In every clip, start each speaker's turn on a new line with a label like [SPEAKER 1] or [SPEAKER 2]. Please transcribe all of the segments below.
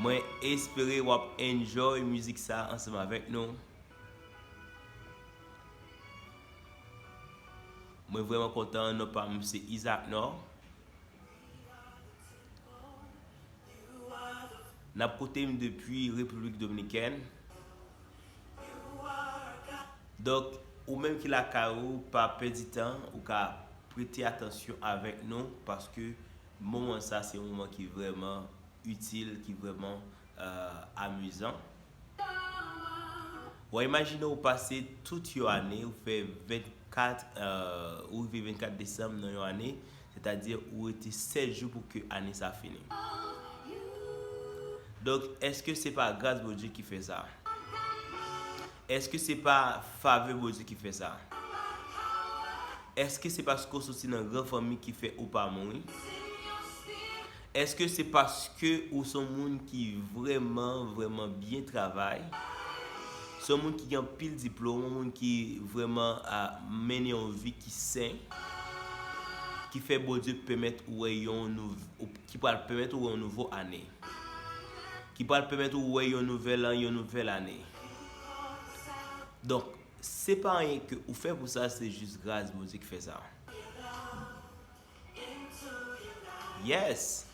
[SPEAKER 1] Mwen espere wap enjoy mizik sa ansanm avèk nou. Mwen vrèman kontan non pam se Isaac Nord. Nap koute m depi Repiblik Dominikèn. Donk ou menm ki lakay ou pa pèdi tan ou ka prete atansyon avèk nou paske Moman sa se yon moman ki vrèman itil, ki vrèman amizan. Wa imajine ou pase tout yon ane, ou fè 24, ou rive 24 desanm nan yon ane, sètadi ou rete 7 jou pou ke ane sa fini. Donk, èske se pa gras Bondye ki fè sa? Eske se pa fave Bondye ki fè sa? Eske se paske w soti nan gran fanmi ki fè ou pa mouri? Eske se paske ou se yon moun ki vrèman, vrèman byen travay? Se yon moun ki gen anpil diplome, yon moun ki vrèman mennen yon vi ki sen, ki fè Bondye pèmèt ou wè yon nou, ki pral pèmèt ou wè yon nouvo ane, ki pral pèmèt ou wè yon nouvèl an, yon nouvèl ane? Donk se pa anyen ke ou fè pou sa se jis gras Bondye ki fè sa. Yes!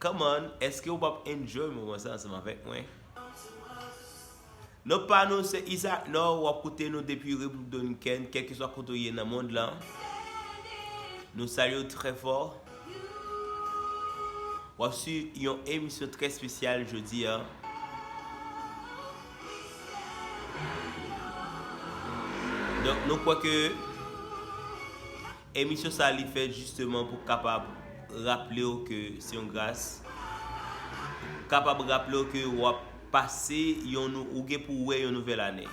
[SPEAKER 1] Come on, eske ou pap enjoy moman sa ansanm avèk mwen? Non pa nou se Isaac Nord wap koute nou depi República Dominicana, kelkeswa kote ou ye nan mond lan. Nou salye ou trè fò. Wap su yon emisyon trè spesyal jodi a. Donk nou kwè ke emisyon sa li fèt jisteman pou kapab raple w ke se yon gras, kapab raple w ke wap pase yon, ou gen pou wè yon nouvèl ane.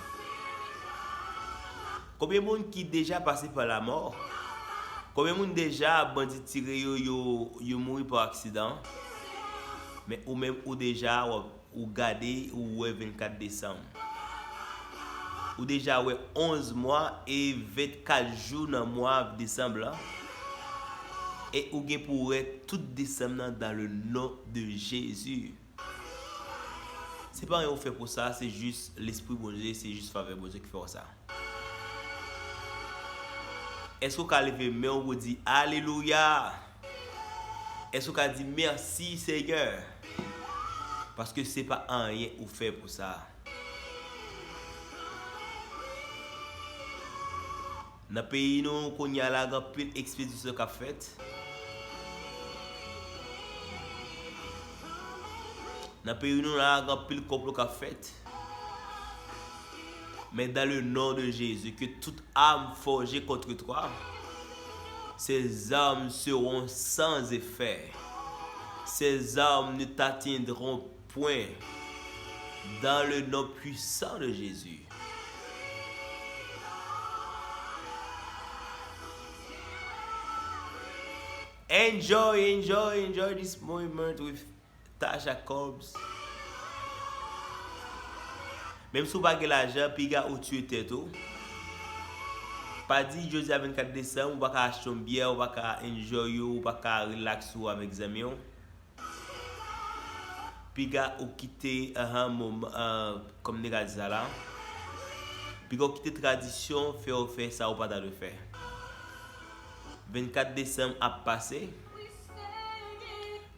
[SPEAKER 1] Konbyen moun ki deja pase pa la mort? Konbyen moun deja bandi tire yo yo mouri pa aksidan? Men ou menm ou deja ou gade ou wè 24 desanm. Ou deja wè 11 mwa e 24 jou nan mwa desanm lan. E ou gen pou wè tout desanm nan dan le non de Jezi. Se pa anyen ou fè pou sa, se jis lespri Bondye, se jis favè Bondye ki fè w sa. Èske ou ka leve men w pou w di alelouya? Èske ou ka di mèsi Senyè? Paske se pa anyen ou fè pou sa. Nan peyi nou kounye a la gen anpil ekspedisyon k ap fèt. Nan peyi nou la gen anpil konplo k ap fèt. Men dan le non de Jezi ke tout am fòje kontre twa se zam seron san zefè. Se zam nou tatindron Pwen. Dan le non pwisan de Jezi. Enjoy enjoy enjoy this moment with Tasha Cobbs Menm si w pa gen lajan piga ou tiye tèt ou Pa di jodi a 24 desanm ou pa ka achte yon byè ou pa ka enjoy ou ou pa ka relax ou avèk zanmi w Piga ou kite ahan mom komnikati sa la. Piga ou kite tradisyon fè ou fè sa ou pa ta dwe fè. 24 desanm ap pase.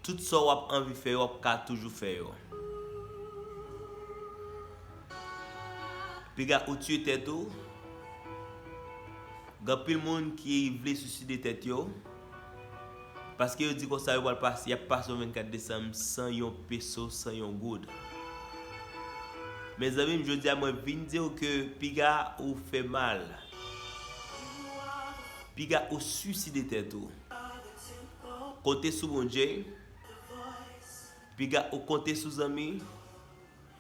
[SPEAKER 1] Tout sa ou ap anvi fè yo ap ka toujou fè yo. Piga ou tiye tèt ou. Gan pil moun ki vle suiside tèt yo. Paske yo di konsa yo pral pase yap pase yon 24 desanm san yon peso san yon goud. Mezanmi m jodia mwen vin diw ke piga ou fè mal. Piga ou suicide tèt ou. Konte sou Bondye. Piga ou konte sou zanmi.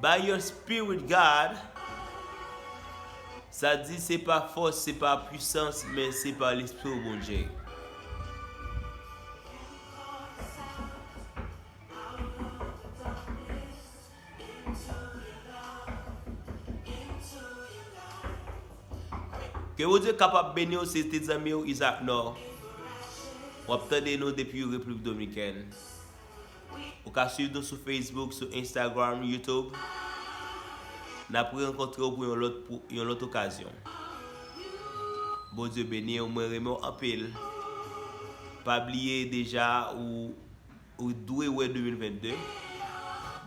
[SPEAKER 1] By your spirit God Sa di se pa fòs se pa pwisans men se pa lespri w Bondye. Ke Bondye kapab beni w se te zanmi w Isaac Nord. Wap tande nou depi República Dominicaine. Ou ka swiv nou sou Facebook, sou Instagram, YouTube. N ap re-rankontre w pou yon lòt pou yon lòt okazyon. Bondye beni w, mwen renmen w anpil. Pa bliye deja ou ou dwe wè 2022.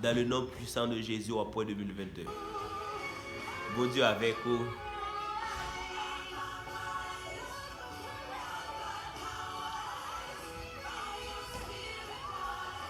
[SPEAKER 1] Dan le non pwisan de Jezi w ap wè 2022. Bondye avèk ou.